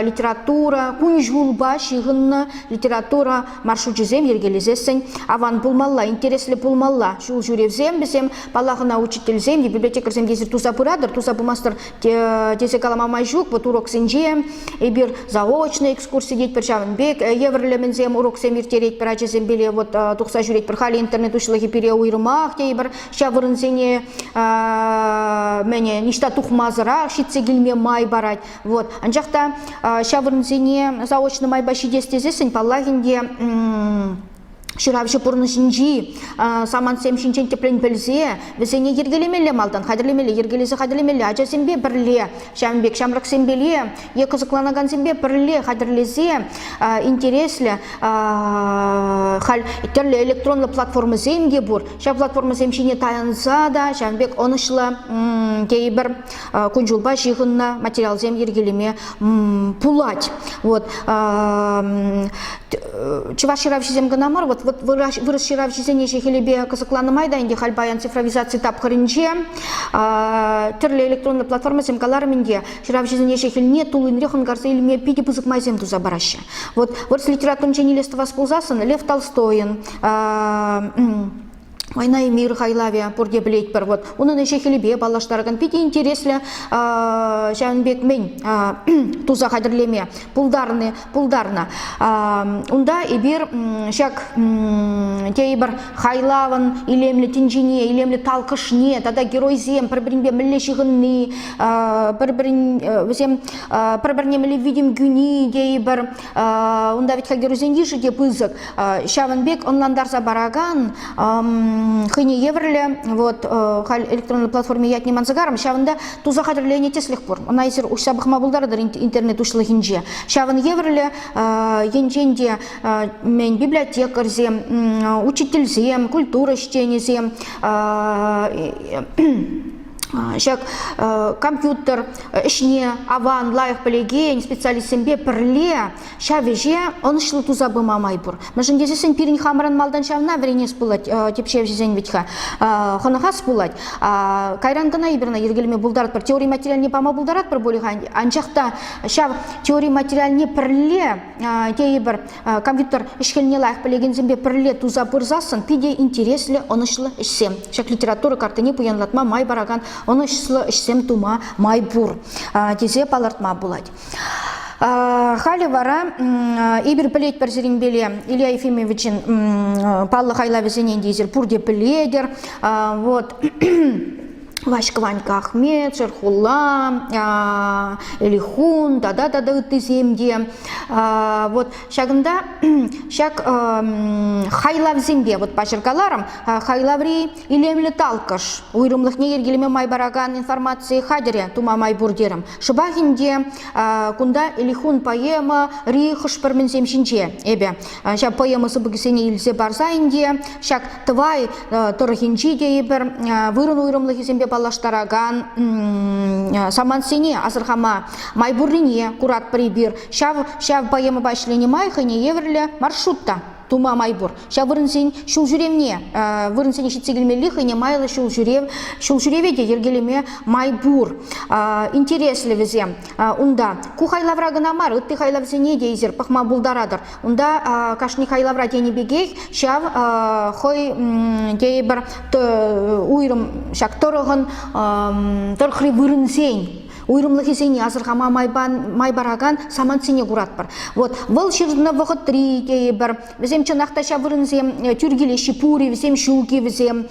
литература кун-ҫулпа ҫыхӑннӑ литература маршручӗсем йӗркелесессӗн аван пулмалла, интереслӗ пулмалла. Ҫул ҫӳревсем вӗсем, паллах, ӑна учительсем те, библиотекарьсем тесе туса пыратӑр, туса пымастӑр тесе калама май ҫук. Вӑт уроксенче эпир заочный экскурси тетпӗр, ҫавӑн пек евӗрлӗмӗнсем уроксем ирттеретпӗр ачасемпеле вот тухса ҫӳретпӗр. Халӗ интернет уҫлӑхӗ пире уйрӑмах тейӗпӗр ҫав вырӑнсене мӗне ниҫта тухмасӑрах ҫитсе килме май парать. Вот анчах та ҫав вырӑнсене заочно майпа ҫитес тесессӗн паллах ӗнтӗ ҫыравҫӑ пурнӑҫӗнчи самантсем ҫинчен тӗплӗн пӗлсе вӗсене йӗркелемелле малтан хатӗрлемелле йӗркелесе хатӗрлемелле ачасемпе пӗрле ҫавӑн пек ҫамрӑксемпе е кӑсӑкланакансемпе пӗрле хатӗрлесе интереслӗ халь тӗрлӗ электронлӑ платформӑсем те пур ҫав платформӑсем ҫине таянса та ҫавӑн пек ӑнӑҫлӑ тейӗпӗр кун-ҫулпа ҫыхӑннӑ материалсем йӗркелеме пулать. Вот. Чӑваш ҫыравҫисем кӑна мар, вот, вот вырӑс ҫыравҫисене ҫехелепе кӑсӑкланӑ май та ӗнтӗ халь паян цифровизаци тапхӑрӗнче тӗрлӗ электронлӑ платформӑсем каларӑм ӗнтӗ, ҫыравҫӑсене ҫехелне тул енре хӑнкарса илме питӗ пысӑк майсем туса параҫҫӗ. Вот вырӑс литературинчен илес тӑвас пулсассӑн Лев Толстойӑн Война и мир хайлавӗ пурте пӗлетпӗр. Вот унӑн ӗҫӗ-хӗлӗпе паллаштаракан питӗ интереслӗ ҫавӑн пек мӗн туса хатӗрлеме пултарни пултарнӑ. Унта эпир ҫак тейпӗр хайлавӑн илемлӗ тӗнчине, илемлӗ талкӑшне тата геройсем пӗр-пӗринпе мӗнле ҫыхӑнни, пӗр-пӗрин вӗсем пӗр-пӗрне мӗнле витӗм кӳни тейпӗр Унта ведь хӗлтерусен йышӗ те пысӑк. Ҫавӑн пек ӑнлантарса паракан хӑйне евӗрлӗ вот халь электронлӑ платформи ятне манса ҫавӑнта туса хатӗрленӗ тӗслӗх пур. Ӑна эсир уҫса пӑхма пултаратӑр интернет уҫлӑхӗнче. Ҫавӑн евӗрлӗ енчен те мӗн библиотекарьсем, учительсем, культура ӗҫченӗсем ҫак компьютер ӗҫне аван, лайӑх пӗлекен специалистсемпе пӗрле ҫав ӗҫе ӑнӑҫлӑ туса пыма май пур. Мӗншӗн тесессӗн пирӗн хамӑрӑн малтан ҫавна вӗренес пулать типҫевҫӗсен вӗт-ха. Хӑнӑхас пулать. Кайран кӑна эпир ӑна йӗркелеме пултаратпӑр, теори материалне пама пултаратпӑр пулӗ-ха. Анчах та ҫав теори материалне пӗрле тейӗпӗр Компьютер ӗҫ-хӗлне лайӑх пӗлекенсемпе пӗрле туса пырсассӑн питӗ интереслӗ, ӑнӑҫлӑ ӗҫсем. Ҫак литература картине пуянлатма май паракан ӑнӑҫлӑ ӗҫсем тума май пур тесе палӑртма пулать. Халӗ вара эпир пӗлетпӗр сирӗнпеле Илья Ефимовичӑн паллӑ хайлавӗсене те эсир пурте пӗлетӗр. Вот Ваҫкӑ Ванькка Ахмет, Шерхулла, Элихун тата тата ыттисем те. Вот ҫакӑнта ҫак хайлавсемпе вот паҫӑркаларӑм. Хайлаври илемлӗ талкӑш, уйрӑмлӑхне йӗркелеме май паракан информаци хатӗрӗ тума май пур терӗм. Шӑпах ӗнтӗ кунта Элихун поэма ри хӑш-пӗр мӗнсем ҫинче эпӗ. ҫав поэма сыпӑкӗсене илсе парса ӗнтӗ ҫак Тӑвай тӑрӑхӗнчи тейӗпӗр вырӑн уйрӑмлӑхӗсемпе паллаштаракан самантсене асӑрхама май пуррине куратпӑр эпир ҫав ҫав поэмӑпа ӗҫленӗ май хӑйне евӗрлӗ маршрут та тума май пур ҫав вырӑнсен ҫул ҫӳревне вырӑнсене ҫитсе килмелли хӑйне майлӑ ҫул ҫӳрев ҫул ҫӳреве те йӗркелеме май пур интереслӗ вӗсем Унта ку хайлавра кӑна мар, ытти хайлавсене те эсир пӑхма пултаратӑр. Унта кашни хайлавра тенӗ пекех ҫав хӑй тейӗпӗр уйрӑм ҫак тӑрӑхӑн тӑрӑхри вырӑнсен уйрӑмлӑхӗсене асӑрхама май паракан самантсене куратпӑр. Вот вӑл ҫырӑннӑ вӑхӑтри тейӗпӗр, Вӗсем чӑнах та ҫав вырӑнсем э, тӳр килеҫҫӗ пури, вӗсем ҫук-и вӗсем.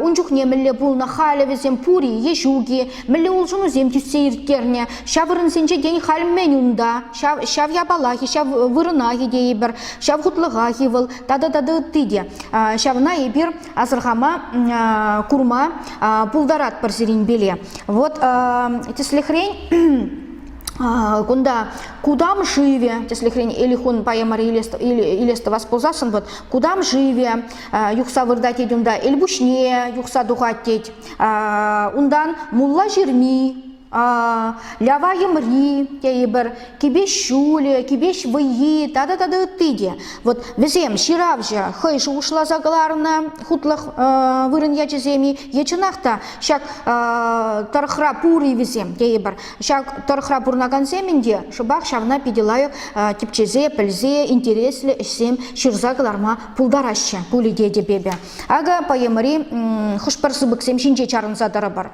Ун чухне мӗнле пулнӑ халӗ вӗсем пури е ҫук-и, мӗнле улшӑнусем тӳссе ирттернӗ. Ҫав вырӑнсенче тен халь мӗн унта, ҫав, ҫав япалах-и, ҫав вырӑнах-и тейӗпӗр, ҫав хутлӑхах-и вӑл тата тата ытти те. Ҫавна эпир асӑрхама, курма пултаратпӑр сирӗн пиле. Вот тӗслӗхрен кунта кудам живе, тӗслӗхрен, Элихун поэмӑра илес тӑвас пулсассӑн, вот кудам живе, юхса выртать тет унта Элпуҫне, юхса тухать тет. Унтан мулла ҫырми, лява йӑмри тейӗпӗр, кипеш ҫулӗ, кипеш вӑййи тата тата ытти те. Вот вӗсем ҫыравҫӑ хӑй шухӑшласа кӑларнӑ хутлӑх вырӑн ячӗсем-и е чӑнах та ҫак тӑрӑхра пур-и вӗсем тейӗпӗр. Ҫав тӑрӑхра пурӑнакансем ӗнтӗ шӑпах ҫавна питӗ лайӑх тӗпчесе, пӗлсе, интереслӗ ӗҫсем ҫырса кӑларма пултараҫҫӗ пулӗ тетӗп эпӗ. Акӑ поэмӑри хӑш-пӗр сыпӑксем ҫинче чарӑнса тӑрӑпӑр.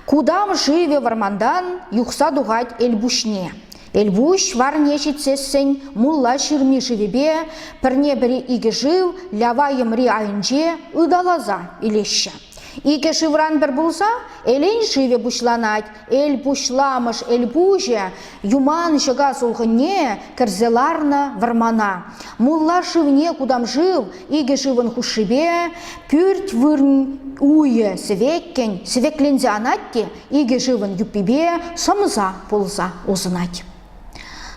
Кудам шывӗ вӑрмантан юхса тухать Элпуҫне. Элпуҫ варне ҫитсессӗн мулла ҫырми шывӗпе пӗрне-пӗри икӗ шыв лява йӑмри айӗнче ыталаса илеҫҫӗ. Икӗ шывран пӗр пулса Элен шывӗ пуҫланать. Эл пуҫламӑш эл пуҫӗ Юман ҫӑка сулхӑнне Кӗрсе ларнӑ вӑрмана. Мулла шывне кутам шыв Икӗ шывӑн хушшипе Пӳрт вырӑн уйӗ сӗвеккӗн Сӗвекленсе анать те Икӗ шывӑн юппипе Сӑмса пулса усӑнать.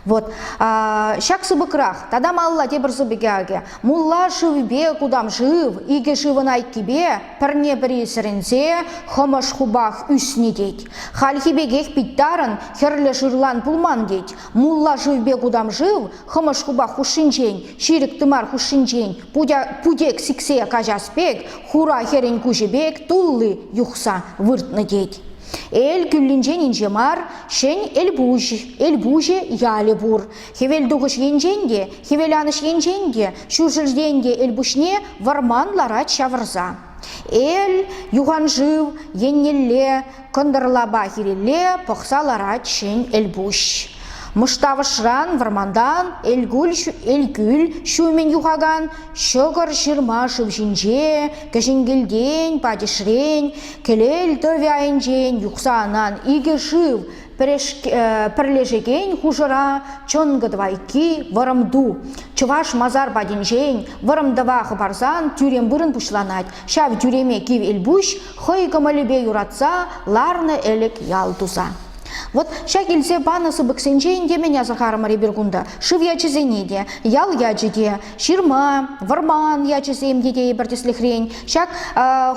Вот. Ҫак сыпӑкрах тата малла тепӗр сыпӑкӗ акӗ. Мулла шывпе кутам шыв, икӗ шывӑн айккипе пӗрне-пӗри сӗрӗнсе хӑмӑш хупах ӳсни тет. Хальхи пекех питтарӑн хӗрлӗ шырлан пулман тет. Мулла шывпе кутам шыв хӑмӑш хупах хушшинчен, ҫирӗк тымар хушшинчен путек сиксе каҫас пек, хура хӗрӗн куҫӗ пек тулли юхса выртнӑ тет. Эл кӳллинчен инҫе мар, Шен Элпуҫ, Элпуҫ ялӗ пур. Хӗвелтухӑҫ енчен те, хӗвеланӑҫ енчен те, ҫурҫӗртен те Элпуҫне вӑрман ларать ҫавӑрса. Эл, юханшыв еннелле, кӑнтӑрлапа хирелле пӑхса ларать Ҫӗн Элпуҫ. Мыштавӑшран вӑрмантан Элкӳл ҫумӗн юхакан ҫӑкӑр ҫырма шыв ҫинче, кӗҫӗн кӗлтен, патишрен, Кӗлел тӑвӗ айӗнчен юхса анан икӗ шыв пӗрлешекен хушӑра чӑнкӑ тӑвайкки вӑрӑм ту. Чӑваш масар патӗнчен вӑрӑм тӑва хӑпарсан тӳрем вырӑн пуҫланать. Ҫав тӳреме Кив Элпуҫ хӑй кӑмӑлӗпе юратса ларнӑ ӗлӗк ял туса. Вот ҫак илсе панӑ сыпӑксенчен те мӗн асӑрхарӑмӑр эпир кунта? Шыв ячӗсене те, ял ячӗ те, ҫырма, вӑрман ячӗсем те тейӗпӗр тӗслӗхрен, ҫак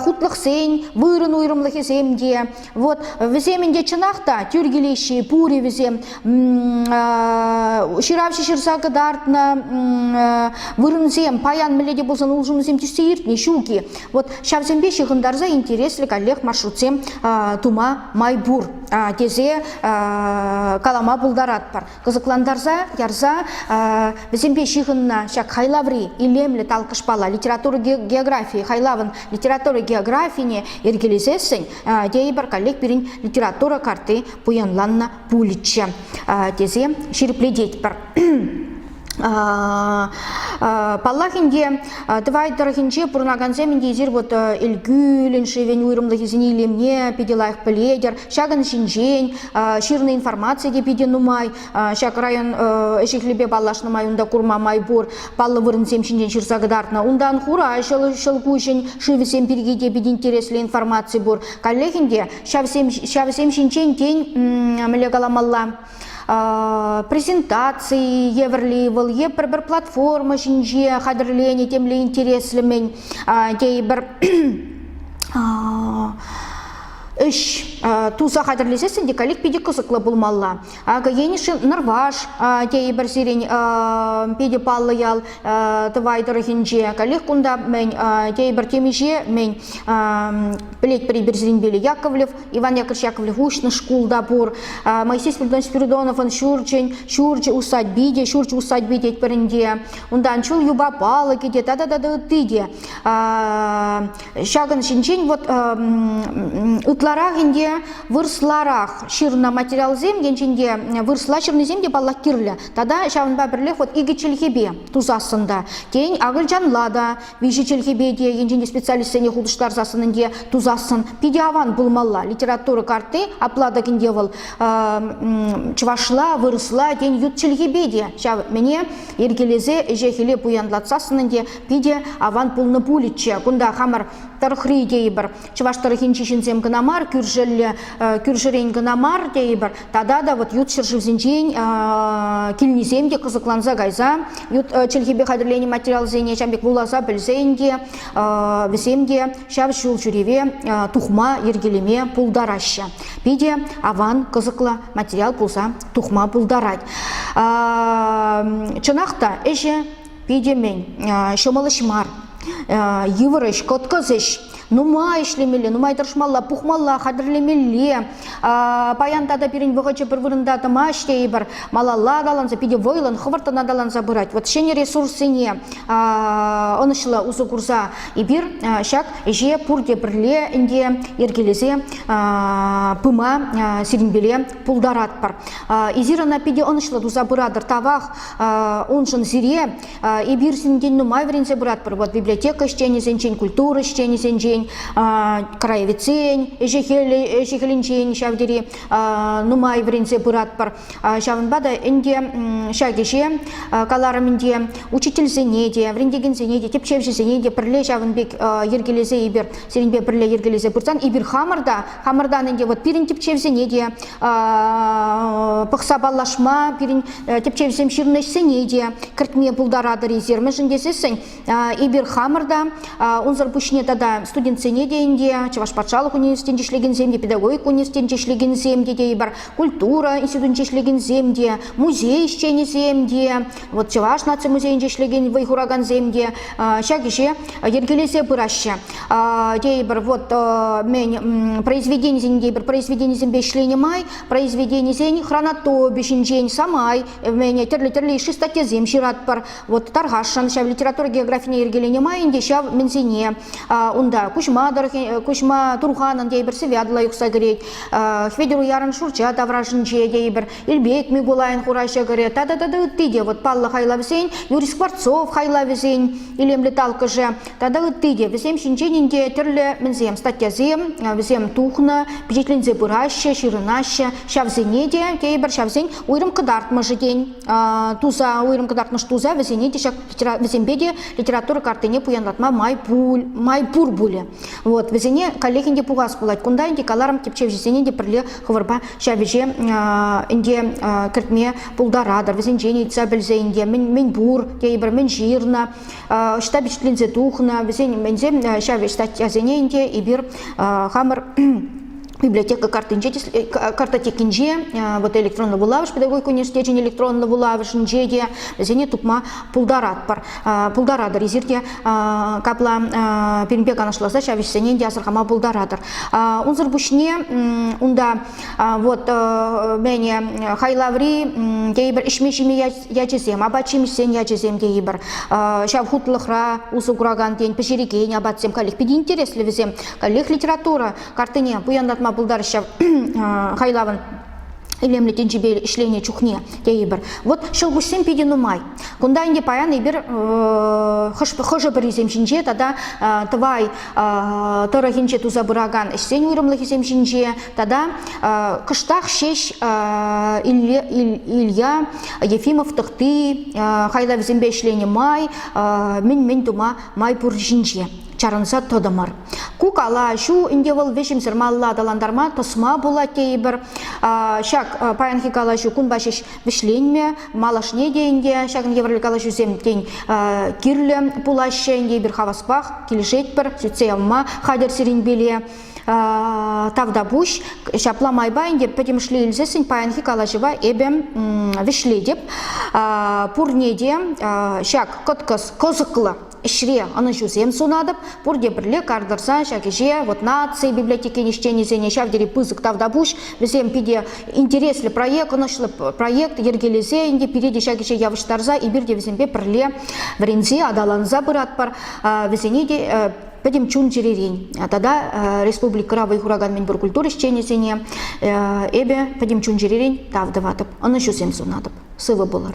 хутлӑхсен вырӑн уйрӑмлӑхӗсем те. Вот вӗсем ӗнтӗ чӑнах та тӳр килеҫҫӗ пури вӗсем. Ҫыравҫӑ ҫырса кӑтартнӑ вырӑнсем паян мӗнле те пулсан улшӑнусем тӳссе иртнӗ ҫук-и. Вот ҫавсемпе ҫыхӑнтарса интереслӗ каллех маршрутсем тума май пур тесе калама пултаратпӑр. кӑсӑклантарса ярса вӗсемпе ҫыхӑннӑ ҫак хайлаври илемлӗ талкӑшпала литература географийӗ хайлавӑн литература географине йӗркелесессӗн тейӗпӗр коллег пирӗн литература карти пуянланнӑ пулӗччӗ тесе ҫирӗплететпӗр. Паллах ӗнтӗ, Тӑвай тӑрӑхӗнче пурӑнакансем ӗнтӗ эсир вот Элкӳлӗн шывӗн уйрӑмлӑхӗсене илемне питӗ лайӑх пӗлетӗр. Ҫакӑн ҫинчен ҫырнӑ информаци те питӗ нумай. Ҫак район ӗҫӗ-хӗлӗпе паллашнӑ май унта курма май пур паллӑ вырӑнсем ҫинчен ҫырса кӑтартнӑ. Унтан хура ҫӑл ҫӑлкуҫӗн шывӗсем пирки те питӗ интереслӗ информаци пур. Каллех ӗнтӗ ҫавсем ҫавсем ҫинчен тен мӗнле каламалла презентаци евӗрли вӑл е пӗр-пӗр платформа ҫинче хатӗрленӗ темле интереслӗ-мӗн тейӗпӗр ӗҫ туса хатӗрлесессӗн те коллег питӗ кӑсӑклӑ пулмалла. Акӑ Енӗшин Нӑрваш тейӗпӗр сирӗн питӗ паллӑ ял Тӑвай тӑрӑхӗнче. Коллег кунта мӗн тейӗпӗр темиҫе мӗн пӗлетпӗр пӗр сирӗнпе Яковлев, Иван Яковлевич Яковлев уҫнӑ шкул та пур. Моисей Спиридонович Спиридоновӑн ҫурчӗн ҫурчӗ усадьби те ҫурчӗ усадьби тетпӗр ӗнтӗ. Унтан чул юпа палӑкӗ те тата тата ытти те. Ҫакӑн ҫинчен вот ытларах ӗнтӗ вырӑсларах ҫырнӑ материалсем енчен те вырӑсла ҫырнисем те паллах кирлӗ. Тата ҫавӑнпа пӗрлех вот икӗ чӗлхепе тусассӑн та, тен акӑлчанла та виҫӗ чӗлхепе те енчен те специалистсене хутӑштарсассӑн ӗнтӗ тусассӑн питӗ аван пулмалла. Литература карти апла тӑкӗнте вӑл чӑвашла, вырӑсла, тен ют чӗлхепе те ҫав мӗне йӗркелесе ӗҫе-хӗле пуянлатсассӑн ӗнтӗ Питӗ аван пулнӑ пулӗччӗ. Кунта хамӑр тӑрӑхри тейӗпӗр. Чӑваш тӑрӑхӗнчи ҫынсем кӑна мар, кӳршӗлле кӳршӗрен кӑна мар тейӗпӗр. Тата та вот ют ҫӗршывсенчен килнисем те кӑсӑкланса кайса ют чӗлхепе хатӗрленӗ материалсене ҫав пек вуласа пӗлсен те вӗсем те ҫав ҫул ҫӳреве тухма, йӗркелеме пултараҫҫӗ. Питӗ аван кӑсӑклӑ материал пулса тухма пултарать. Чӑнах та ӗҫӗ Питӗ мӗн, ҫӑмӑл ӗҫ мар. Йывӑр ӗҫ, кӑткӑс ӗҫ. Нумай ӗҫлемелле, нумай тӑрӑшмалла, пухмалла, хатӗрлемелле. Паян тата пирӗн вӑхӑчӗ пӗр вырӑнта тӑмасть тейӗпӗр. Малалла аталанса, питӗ вӑйлӑн, хӑвӑрттӑн аталанса пырать. Вот ҫӗнӗ ресурссене ӑнӑҫлӑ усӑ курса эпир ҫак ӗҫе пурте пӗрле ӗнтӗ йӗркелесе пыма сирӗнпеле пултаратпӑр. Эсир ӑна питӗ ӑнӑҫлӑ туса пыратӑр. Тавах Уншӑн сире эпир синтен нумай вӗренсе пыратпӑр. Вот библиотека ӗҫченӗсенчен, культура ӗҫченӗсенчен, краеведсен ӗҫӗ-хӗлӗнчен ҫав тери нумай вӗренсе пыратпӑр. Ҫавӑнпа та ӗнтӗ ҫак ӗҫе каларӑм ӗнтӗ учительсене те, вӗрентекенсене те, тӗпчевҫӗсене те пӗрле ҫавӑн пек йӗркелесе эпир сирӗнпе пӗрле йӗркелесе пырсан эпир хамӑр та хамӑртан ӗнтӗ вот пирӗн тӗпчевсене те пӑхса паллашма, пирӗн тӗпчевҫӗсем ҫырнӑ ӗҫсене те кӗртме пултаратӑр эсир, мӗншӗн тесессӗн эпир хамӑр та, унсӑр пуҫне тата студентсене те ӗнтӗ, Чӑваш патшалӑх университетӗнче ӗҫлекенсем те, педагогика университетӗнче ӗҫлекенсем те тейӗпӗр, культура институтӗнче ӗҫлекенсем те, музей ӗҫченӗсем те, Вот Чӑваш наци музейӗнче ӗҫлекен вӑй хуракансем те ҫак ӗҫе йӗркелесе пыраҫҫӗ. Тейӗпӗр, вот мен произведенисен тейӗпӗр произведенисемпе ӗҫленӗ май произведенисен хронотопи ҫинчен самай мене тӗрлӗ-тӗрлӗ иши статьясем ҫыратпӑр. Вот Тархашӑн ҫав литература географине йӗркеленӗ май ӗнтӗ ҫав мӗнсене унта Куҫма Куҫма Турханӑн тейӗпӗр сывятлӑ юхса кӗрет. Хветӗр Уярӑн Шурча таврашӗнче тейӗпӗр. Ирбек Микулайӑн хура ҫӑкӑрӗ тата тата ытти те вӑт паллӑ хайлавсен, Юрий Скворцов хайлавӗсен илемлӗ талккӑшӗ тата ытти те. Вӗсем ҫинчен инке тӗрлӗ мӗнсем статьясем вӗсем тухнӑ, пичетленсе пыраҫҫӗ, ҫырӑнаҫҫӗ. Ҫавсене те тейӗпӗр ҫавсен уйрӑм кӑтартмӑшӗ тен туса уйрӑм кӑтартмӑш туса вӗсене те ҫак вӗсемпе те литература картине пуянлатма май пуль май пур пулӗ. Вот вӗсене коллегин те пухас пулать. Кунта ӗнтӗ каларӑм тӗпчевҫӗсене те пӗрле Хӑвӑрпа ҫав ӗҫе ӗнтӗ кӗртме пултаратӑр. Вӗсенчен ыйтса пӗлсе ӗнтӗ мӗн, мӗн пур тейӗпӗр, мӗн ҫырнӑ, ӑҫта вӗҫленсе тухнӑ, вӗсен мӗнсем ҫав статьясене ӗнтӗ эпир хамӑр библиотека картинче картотекинче вот электронлӑ вулавӑш педагогика университечӗн электронлӑ вулавӑшӗнче те вӗсене тупма пултаратпӑр, пултаратӑр. Эсирте капла пирӗнпе канашласа ҫав ӗҫсене те асӑрхама пултаратӑр. Унсӑр пуҫне унта вот мене хайлаври тейӗпӗр ӗҫме-ҫиме ячӗсем, апат-ҫимӗҫсен ячӗсем тейӗпӗр. Ҫав хутлӑхра усӑ куракан тен пӗҫерекен апатсем каллех питӗ интереслӗ вӗсем. Каллех литература картине пуянлатма пултараҫҫӗ хайлавӑн илемлӗ тӗнчипе ӗҫленӗ чухне тейӗпӗр. Вот ҫӑлкуҫсем питӗ нумай. Кунта ӗнтӗ паян эпир хӑшӗ-пӗрисем ҫинче тата Тӑвай тӑрӑхӗнче туса пыракан ӗҫсен уйрӑмлӑхӗсем ҫинче тата кӑштах ҫеҫ Илья Ефимов тӑхти хайлавӗсемпе ӗҫленӗ май мӗн-мӗн тума май пур ҫинче. чарӑнса тӑтӑмӑр. Ку калаҫу ӗнтӗ вӑл вӗҫӗмсӗр малла аталантарма тӑсма пулать тейӗпӗр. Ҫак паянхи калаҫу кунпа ҫеҫ вӗҫленмӗ. Малашне те ӗнтӗ ҫакӑн евӗрлӗ калаҫусем тен кирлӗ пулаҫҫӗ. Ӗнтӗ эпир хаваспах килӗшетпӗр, сӳтсе явма хатӗр сирӗн пиле. Тавтапуҫ. Ҫапла майпа ӗнтӗ пӗтӗмӗшле илсессӗн паянхи калаҫӑва эпӗ вӗҫлетӗп. Пурне те ҫак кӑткӑс кӑсӑклӑ ӗҫре ӑнӑҫусем сунатӑп. Пурте пӗрле кар тӑрса ҫак ӗҫе вот наци библиотекин ӗҫченӗсене ҫав тери пысӑк тавтапуҫ. Вӗсем питӗ интереслӗ проект, ӑнӑҫлӑ проект йӗркелесе ӗнтӗ пире те ҫак ӗҫе явӑҫтарса эпир те вӗсемпе пӗрле вӗренсе аталанса пыратпӑр. Вӗсене те пӗтӗм чун-чӗререн тата республикӑра вӑй хуракан мӗнпур культура ӗҫченӗсене эпӗ пӗтӗм чун-чӗререн тав тӑватӑп, ӑнӑҫусем сунатӑп. Сывӑ пулӑр!